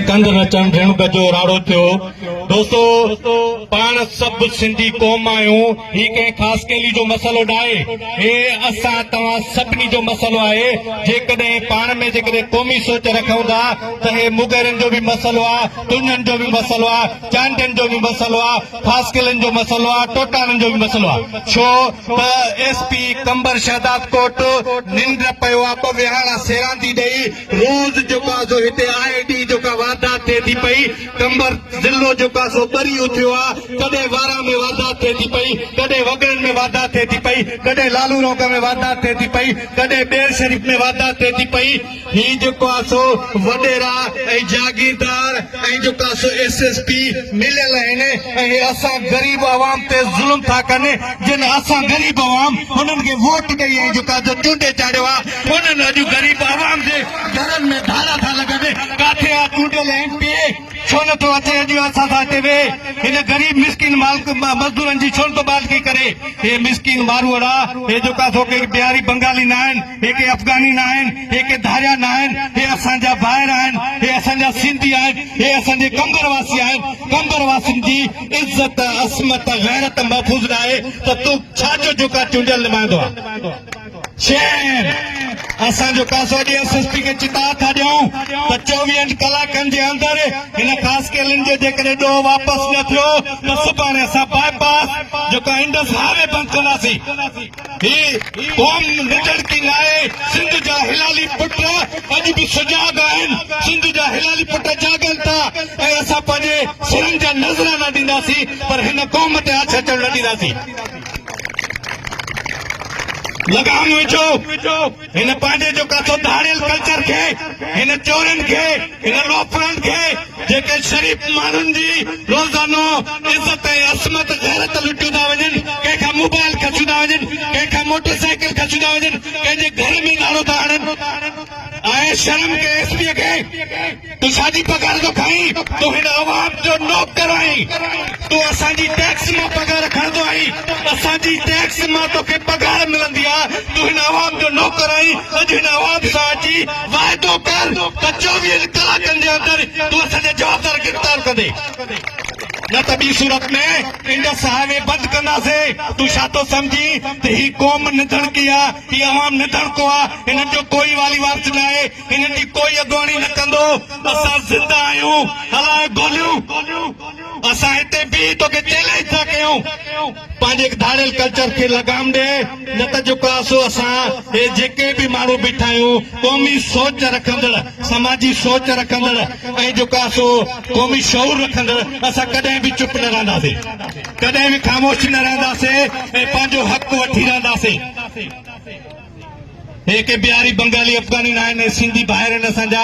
ڪنڌ نه چن ريڻڪ جو راڙو ٿيو. دوستو پاڻ سڀ سنڌي قوم آهيون هي ڪنهن خاص قيلي جو مسئلو ناهي هي اسان توهان سڀني جو مسئلو آهي جيڪڏهن پاڻ ۾ جيڪڏهن قومي سوچ رکون ٿا ته هي مغيرن جو به مسئلو آ تنهن جو به مسئلو آ چانڊين جو به مسئلو آ خاص قيلن جو مسئلو آ ٽوٽاڻن جو به مسئلو آ ڇو ته ايس پي قمبر شهدادڪوٽ ننڊ پيو آ ٻه ويهاڻا سيراندي ڏئي روز جيڪو آ سو هتي آء ڊي جو ڪا واردات ٿئي ٿي پئي قمبر ضلعو جيڪو آ سو ٻري اٿيو آ ڪڏهن واران ۾ واردات ٿئي ٿي پئي ڪڏهن وڳڙن ۾ واردات ٿئي ٿي پئي ڪڏهن لالو روڪ ۾ واردات ٿئي ٿي پئي ڪڏهن ٻير شريف ۾ واردات ٿئي ٿي پئي هي جيڪو آ سو وڏيرا ۽ جاگيردار ۽ جيڪو آ سو ايس ايس پي مليل آهن ۽ هي اسان غريب عوام تي ظلم ٿا ڪن جن اسان غريب عوام هنن کي ووٽ ڏئي ۽ جيڪو آ سو چونڊي چاڙهيو آ ڪونهن اڄ غريب عوام جي گهرن ۾ ڌارا ٿا لڳن ڪاٿي آ چونڊيل ايم پي اي ڇو نه ٿو اچي اڄ اسان سان اتي ويهي هن غريب مسڪين مزدورن جي ڇو نه ٿو بالڪي ڪري هي مسڪين ماروئڙا هي جو ڪا ٿو ڪي بهاري بنگالي نه آهن هي ڪي افغاني نه آهن هي ڪي ڌاريا نه آهن هي اسان جا ڀائر آهن هي اسان جا سنڌي آهن هي اسان جي قمبر واسي آهن قمبر واسين جي عزت عصمت غيرت محفوظ نه آهي ته تون ڇا جو جو ڪا چونڊيل نمائندو آ چين، اسان جو ڪا سو ڏينهن سستي کي چتاء ٿا ڏيون ته چوويهن ڪلاڪن جي اندر هن خاص ڪيلن جو جيڪڏهن ڏوهه واپس نه ٿيو ته سڀاڻي اسان باء پاس جيڪو آهي انڊس هاء وي بند ڪنداسين. هي قوم نڊڙڪي ناهي، سنڌ جا هلالي پٽ اڄ به سجاڳ آهن، سنڌ جا هلالي پٽ جاڳن ٿا ۽ اسان پنهنجي سرن جا نذرانا ڏينداسين پر هن قوم تي آڇ اچڻ نه ڏينداسين. لگام وجھو ان پانجي جو ڪاٿو ڌاڙيل کلچر کي ان چورن کي ان لوفرن کي جيڪي شريف مانن جي روزانو عزت ۽ عصمت غيرت لٽيو ٿا وڃن ڪنهن کان موبائل کسيو ٿا وڃن ڪنهن کان موٽر سائيڪل کسيو ٿا وڃن ڪنهن جي گھر ۾ نارو ٿا هڻن ۽ شرم ڪي ايس پي کي تون ساڄي پگهار ٿو کائين، تون هن عوام جو نوڪر آهين، تون اسان جي ٽيڪس مان پگهار کڻندو آهين، اسان جي ٽيڪس مان توکي پگهار ملندي آ، تون هن عوام جو نوڪر آهين، اڄ هن عوام سان اچي واعدو ڪر ته چوويهن ڪلاڪن جي اندر تون اسان جا جوابدار گرفتار ڪندي، نه ته ٻي صورت ۾ انڊس هاء وي بند ڪنداسين، تون ڇا ٿو سمجهين ته هي قوم نڌڻڪي آ، هي عوام نڌڻڪو آ، هنن جو ڪوئي والي وارث ناهي، ڪنھن جي ڪوئي اڳواڻي نه ڪندو اسان زنده آھيون ھلائي گوليون اسان ھتي بيھي توکي چئلينج ٿا ڪيون پنھنجي ڌاڙيل ڪلچر کي لگام ڏي نه ته جيڪو آسو اسان ھي جيڪي به ماڻھو بيٺا آھيون قومي سوچ رکندڙ سماجي سوچ رکندڙ ۽ جيڪو آسو قومي شعور رکندڙ اسان ڪڏھن به چپ نه رھنداسي ڪڏھن به خاموش نه رھنداسي ۽ پنھنجو حق وٺي رھنداسي هي ڪي بهاري بنگالي افغاني ناهن، هي سنڌي ڀائر آهن اسان جا.